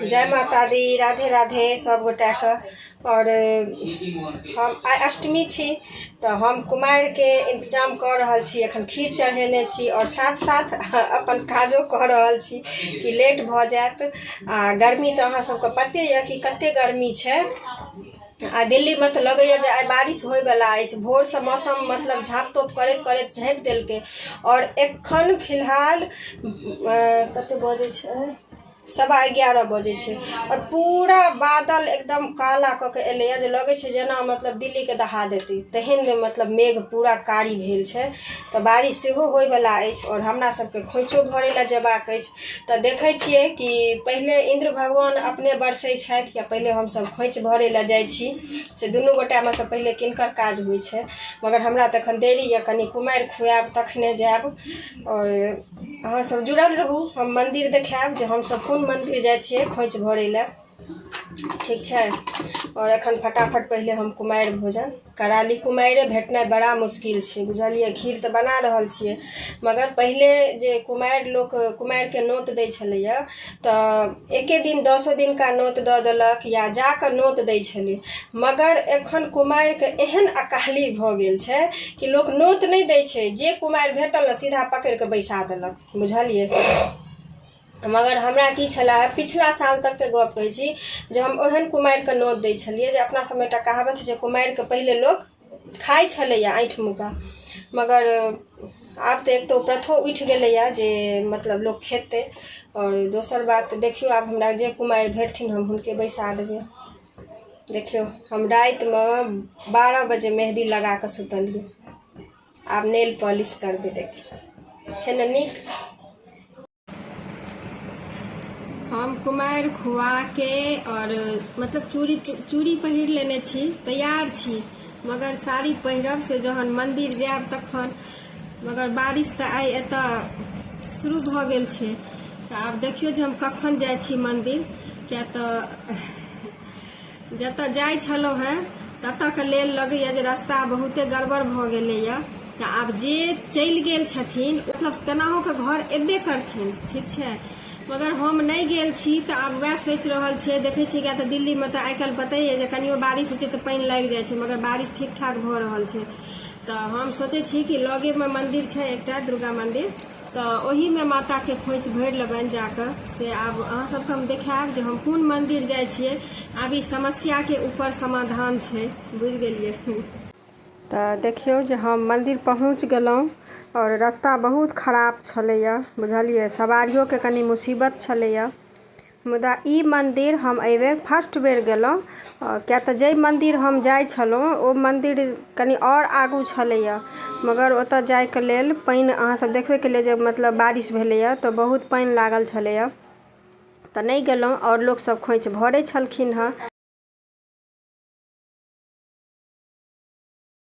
जय माता दी राधे राधे सब गोटा के और हम आइ अष्टमी छी तऽ हम कुमारि के इंतजाम कऽ रहल छी एखन खीर चढ़ेने छी और साथ साथ अपन काजो कऽ रहल छी कि लेट भऽ जायत आ गर्मी तऽ अहाँ सबके पते यऽ कि कते गर्मी छै आ दिल्ली मे तऽ लगैया जे आइ बारिश होय बला अछि भोर सँ मौसम मतलब झाँप तोप करैत करैत झाँपि देलकै आओर एखन फिलहाल कते बजै छै सवा एगारह बजै छै आओर पूरा बादल एकदम काला कऽ के एलैया जे लगै छै जेना मतलब दिल्ली के दहा देतै तेहन मतलब मेघ पूरा कारी भेल छै तऽ बारिश सेहो होय बला अछि आओर हमरा सबके खोंइछो भरै लए जेबाक अछि तऽ देखै छियै कि पहिले इन्द्र भगवान अपने बरसै छथि या पहिले हमसभ खोंछि भरै लए जाइ छी से दुनू गोटामे सँ पहिले किनकर काज होइ छै मगर हमरा तऽ एखन देरी यऽ कनि कुमारि खुआएब तखने जाएब आओर अहाँ सभ जुड़ल रहू हम मन्दिर देखाएब जे हमसभ कोन मन्दिर जाइ छियै खोंछि भरै लए ठीक छै आओर एखन फटाफट पहिले हम कुमारि भोजन करा ली कुमारिए भेटनाइ बड़ा मुश्किल छै बुझलिए खीर तऽ बना रहल छिए मगर पहिले जे कुमारि लोक कुमारिके नोत दै छलैए तऽ एक्के दिन दसो दिनका नोत दऽ देलक या जाकऽ नोत दै छलै मगर एखन कुमारिके एहन अकाली भऽ गेल छै कि लोक नोत नहि दै छै जे कुमारि भेटल ने सीधा पकड़िकऽ बैसा देलक बुझलिए मगर हमरा की छले हे पिछला साल तक के गप कहै छी जे हम ओहन कुमारिके नोत दै छलियै जे अपना सबमे एकटा कहावत छै जे कुमारिके पहिले लोक खाइ छलैए आँठि मुका मगर आब तऽ एक तऽ प्रथो उठि गेलैए जे मतलब लोक खेतै आओर दोसर बात देखियौ आब हमरा जे कुमारि भेटथिन हम हुनके बैसा देबै देखियौ हम रातिमे बारह बजे मेहदी लगा कऽ सुतलियै आब नेल पॉलिश करबै देखियौ छै ने नीक हम कुमारि खुआके आओर मतलब चूड़ी चूड़ी पहिर लेने छी तैयार छी मगर साड़ी पहिरब से जहन मन्दिर जायब तखन मगर बारिश तऽ आइ एतऽ शुरू भऽ गेल छै तऽ आब देखियौ जे हम कखन जाइ छी मन्दिर किया तऽ जतऽ जाइ छलहुँ हैं ततऽ के लेल लगैया जे रास्ता बहुते गड़बड़ भऽ गेलैया तऽ आब जे चलि गेल छथिन मतलब केनाहो के घर एबे करथिन ठीक छै मगर हम नहि गेल छी तऽ आब वएह सोचि रहल छियै देखै छियै किया तऽ दिल्लीमे तऽ आइ काल्हि पते यऽ जे कनियो बारिश होइ छै तऽ पानि लागि जाइ छै मगर बारिश ठीक ठाक भऽ रहल छै तऽ हम सोचै छी कि लगेमे मन्दिर छै एकटा दुर्गा मन्दिर तऽ ओहिमे माताके खोंछि भरि लेबनि जाकऽ से आब अहाँ सबके हम देखायब जे हम कोन मन्दिर जाइ छियै आब ई समस्याके ऊपर समाधान छै बुझि गेलियै तऽ देखियौ जे हम मन्दिर पहुँच गेलहुँ आओर रस्ता बहुत खराब छलैए बुझलियै सवारियोके कनि मुसीबत छलैए मुदा ई मन्दिर हम एहि बेर फर्स्ट बेर गेलहुॅं किए तऽ जाहि मन्दिर हम जाइ छलहुॅं ओ मन्दिर कनी आओर आगू छलैया मगर ओतऽ जायके लेल पानि अहाँ सब देखबे केलियै जे मतलब बारिश भेलैया तऽ बहुत पानि लागल छलैया तऽ नहि गेलहुॅं आओर लोक सब खोंइछ भरै छलखिन हँ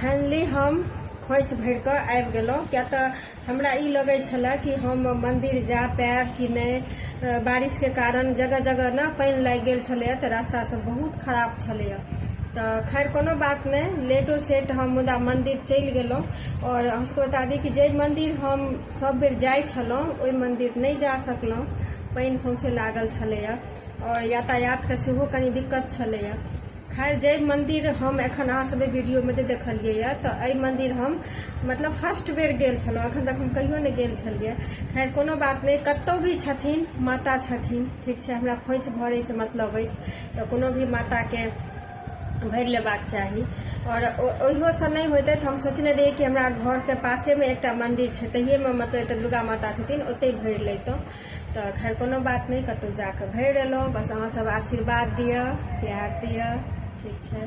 फाइनली हम खोइछ भरि कऽ आबि गेलहुँ किया तऽ हमरा ई लगै छलए कि हम मन्दिर जा पायब कि नहि अ, बारिशके कारण जगह जगह ने पानि लागि गेल छलैए तऽ रास्ता सब बहुत खराब छलैए तऽ खैर कोनो बात नहि लेटो सेट हम मुदा मन्दिर चलि गेलहुँ आओर अहाँसभके बता दी कि जे मन्दिर हम सब बेर जाइ छलहुँ ओहि मन्दिर नहि जा सकलहुँ पानि सौँसे लागल छलैए आओर यातायातके सेहो कनि दिक्कत छलैए खैर जय मंदिर हम एखन अहाँ सब वीडियो में जे देखलिए या तो अ मंदिर हम मतलब फर्स्ट बेर गेल छलहुँ अखन तक हम कहियो नहीं गेल छलिए खैर कोनो बात नहीं कतौ भी छथिन माता छथिन ठीक है हमरा खोच भरे से मतलब है तो कोनो भी माता के भर लेबाक चाही और ओहो से नहीं होते तो हम सोचने रही कि हमारा घर के पासे में एक मंदिर है तहिए में मतलब एक दुर्गा माता छथिन ओते भर लेतों तऽ खैर कोनो बात नहि कतहु जा कऽ भरि एलहुँ बस अहाँसभ आशीर्वाद दिअ प्यार दिअ ठीक छै